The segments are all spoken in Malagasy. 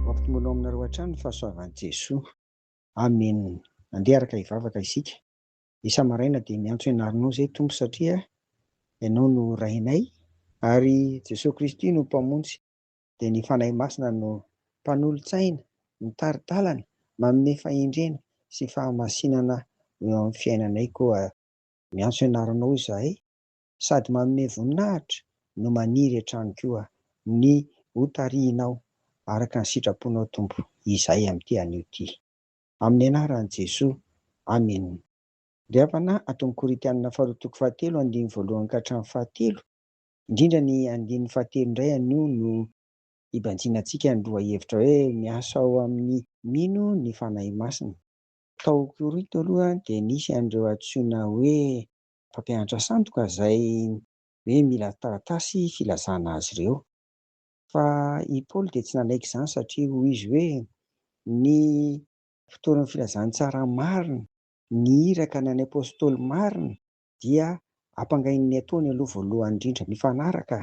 Mampitomboanao aminareo hatrany ny fahasoavan'i Jesoa. Amen Andeha araka hivavaka isika isa maraina dia miantso ianarinao zay Tompo satria Ianao no Rainay ary Jesoa Kristy no Mpamonjy dia ny Fanahy Masina no Mpanolotsaina mitari-dalana manome fahendrena sy fahamasinana eo amin'ny fiainanay koa miantso ianarinao izahay sady manome voninahitra no maniry hatrany koa ny ho tarihinao araka ny sitraponao Tompo izahay amin'ity anio ty. Amin'ny anaran'i Jesoa. Amen. Ry havana ato amin'ny Korintianina faharoa toko fahatelo andininy voalohany ka hatramin'ny fahatelo, indrindra ny andininy fahatelo indray anio no hibanjina antsika ny lohahevitra hoe miasa ao amin'ny mino ny Fanahy Masina. Tao Korinto aloha dia nisy an'ireo antsoina hoe mpampianatra sandoka izay hoe mila taratasy filazana azy ireo. Fa i Paoly dia tsy nanaiky izany satria hoy izy hoe, Ny mpitory ny filazantsara marina, ny iraka na ny apostoly marina dia ampangain'ny ataony aloha voalohany indrindra. Mifanaraka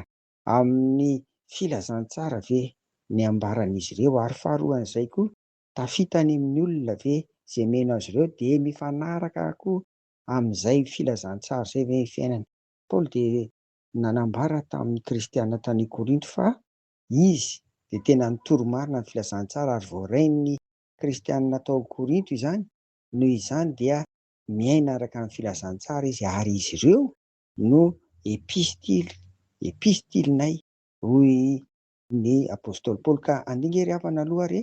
amin'ny filazantsara ve ny ambaran'izy ireo? Ary faharoan'izay koa, tafita any amin'ny olona ve izay meno azy ireo? Dia mifanaraka koa amin'izay filazantsara izay ve ny fiainany? Paoly dia nanambara tamin'ny kristiana tany Korinto fa izy dia tena nitory marina ny filazantsara ary voarain'ny kristiana tao Korinto izany, noho izany dia miaina araka ny filazantsara izy ary izy ireo no epistily, epistilinay, hoy ny apostoly Paoly, ka andinga ery havana aloha ary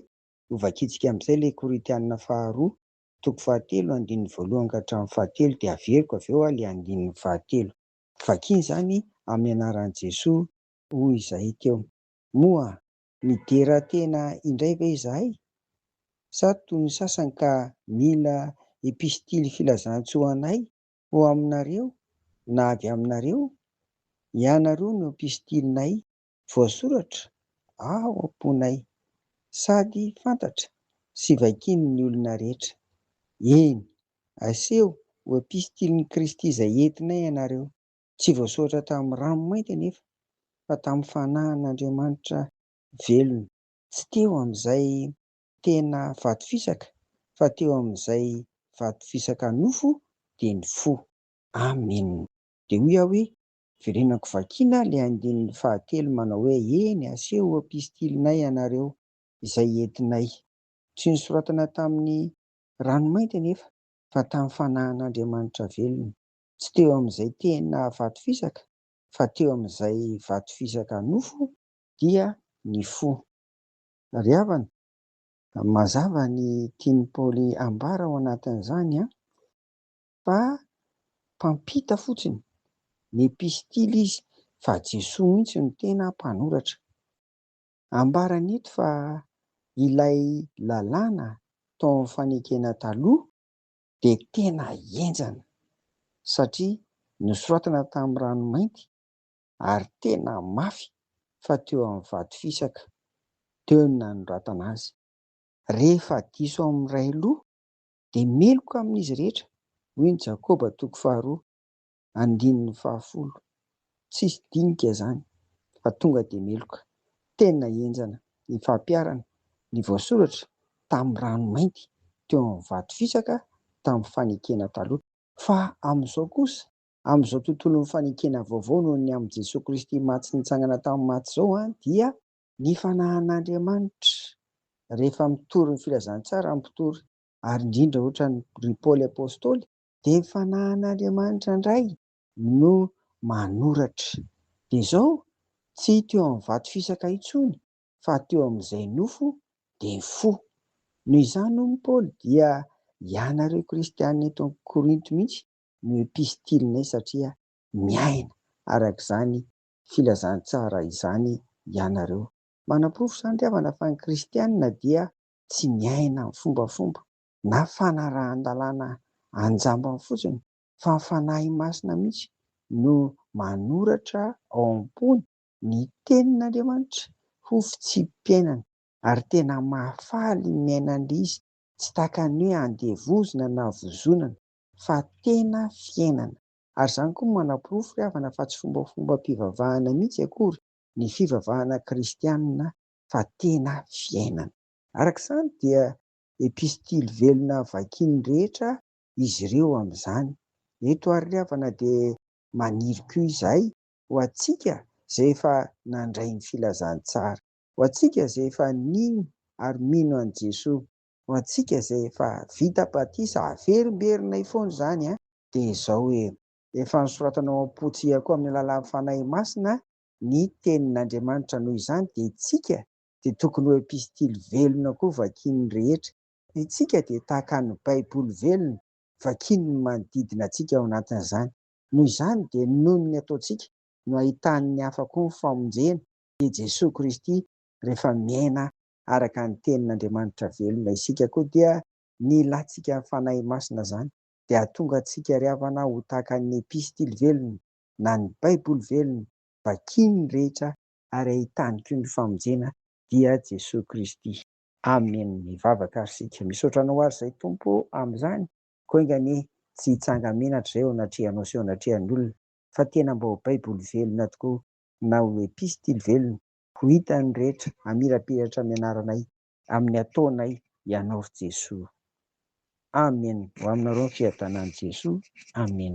hovakintsika amin'izay ilay Korintiana faharoa toko fahatelo andininy voalohany ka hatramin'ny fahatelo dia averiko avy eo ilay andininy fahatelo. Vakina izany amin'ny anaran'i Jesoa hoy izahay teo. Moa midera tena indray ve izahay? Sa toy ny sasany ka mila epistily filazantsoa anay ho aminareo na avy aminareo? Ianareo no epistilinay. voasoratra ao am-ponay sady fantatra sy vakian'ny olona rehetra. Eny, aseho ho epistilin'i Kristy izay entinay ianareo, tsy voasoratra tamin'ny rano mainty anefa, fa tamin'ny Fanahin'Andriamanitra velona. Tsy teo amin'izay tena vato fisaka, fa teo amin'izay vato fisaka nofo, dia ny fo. Amena. Dia hoy aho hoe, Verenako vakiana ilay andininy fahatelo manao hoe eny aseho eo pistilynay ianareo izay entinay. Tsy nosoratana tamin'ny rano mainty anefa fa tamin'ny fanahin'Andriamanitra velona. Tsy teo amin'izay tena vato fisaka fa teo amin'izay vato fisaka nofo dia ny fo. Ry havana, mazava ny tian'i Paoly ambara ao anatin'izany an! fa mpampita fotsiny, ny epistily izy fa Jesoa mihitsy no tena mpanoratra. Ambarany eto fa ilay lalàna tao amin'ny fanekena taloha dia tena henjana satria nosoratana tamin'ny rano mainty ary tena mafy fa teo amin'ny vato fisaka teo no nanoratana azy. Rehefa diso amin'ny iray loha dia meloka amin'izy rehetra, hoy ny Jakoba toko faharoa andininy fahafolo. Tsisy dinika izany fa tonga dia meloka. Tena henjana ny fampiharana ny voasoratra tamin'ny rano mainty teo amin'ny vato fisaka tamin'ny fanekena taloha. Fa amin'izao kosa, amin'izao tontolon'ny fanekena vaovao noho ny amin'i Jesoa Kristy maty sy nitsangana tamin'ny maty izao dia. Ny fanahan'Andriamanitra, rehefa mitory ny filazantsara ny mpitory, ary indrindra ohatran'i ry Paoly Apostoly, dia ny fanahan'Andriamanitra indray no manoratra. Dia izao, tsy teo amin'ny vato fisaka intsony, fa teo amin'izay nofo, dia ny fo. Noho izany hono Paoly dia ianareo kristiana eto Korinto mihitsy no epistilinay satria miaina araka izany filazantsara izany ianareo. Manaporofo izany ry havana fa ny kristiana dia tsy miaina amin'ny fombafomba na fanarahan-dalàna an-jambany fotsiny fa ny Fanahy Masina mihitsy no manoratra ao am-pony ny tenin'Andriamanitra ho fitsipi-piainana ary tena mahafaly ny miaina an'lzy tsy takany hoe andevozina na vozonana fa tena fiainana. Ary izany koa manaporofo ry havana fa tsy fombafombam-pivavahana mihitsy akory ny fivavahana kristianina fa tena fiainana. Araka izany dia epistily velona vakian'ny rehetra izy ireo amin'izany. Eto ary ry havana dia maniry koa izahay ho antsika izay efa nandray ny filazantsara, ho antsika izay efa nino ary mino an'i Jesoa, Ho antsika izay efa vita batisa averimberinay foana izany dia izao hoe, Efa nosoratana ao am-pontsika koa amin'ny alalan'ny Fanahy Masina ny Tenin'Andriamanitra noho izany dia isika dia tokony ho epistily velona koa vakian'ny rehetra. Isika dia tahaka ny Baiboly velona vakian'ny manodidina antsika ao anatin'izany. Noho izany dia noho ny ataontsika no ahitan'ny hafa koa ny famonjena dia Jesoa Kristy rehefa miaina araka ny tenin' Andriamanitra velona isika koa dia ny ilantsika ny Fanahy Masina izany dia hahatonga antsika ry havana ho tahaka ny Epistily velona na ny Baiboly velona vakin' ny rehetra ary ahitany koa ny famonjena dia Jesoa Kristy. Amen mivavaka ary isika. Misaotra anao ary izay Tompo amin' izany koa enga anie tsy hitsanga menatra izay eo anatrehanao sy eo anatrehan' olona fa tena mba ho Baiboly velona tokoa na ho Epistily velona Ho hitan'ny rehetra hamirapiratra ny anaranay. Amin'ny ataonay Ianao ry Jesoa. Amen ho aminareo ny fiadanan'i Jesoa Amen.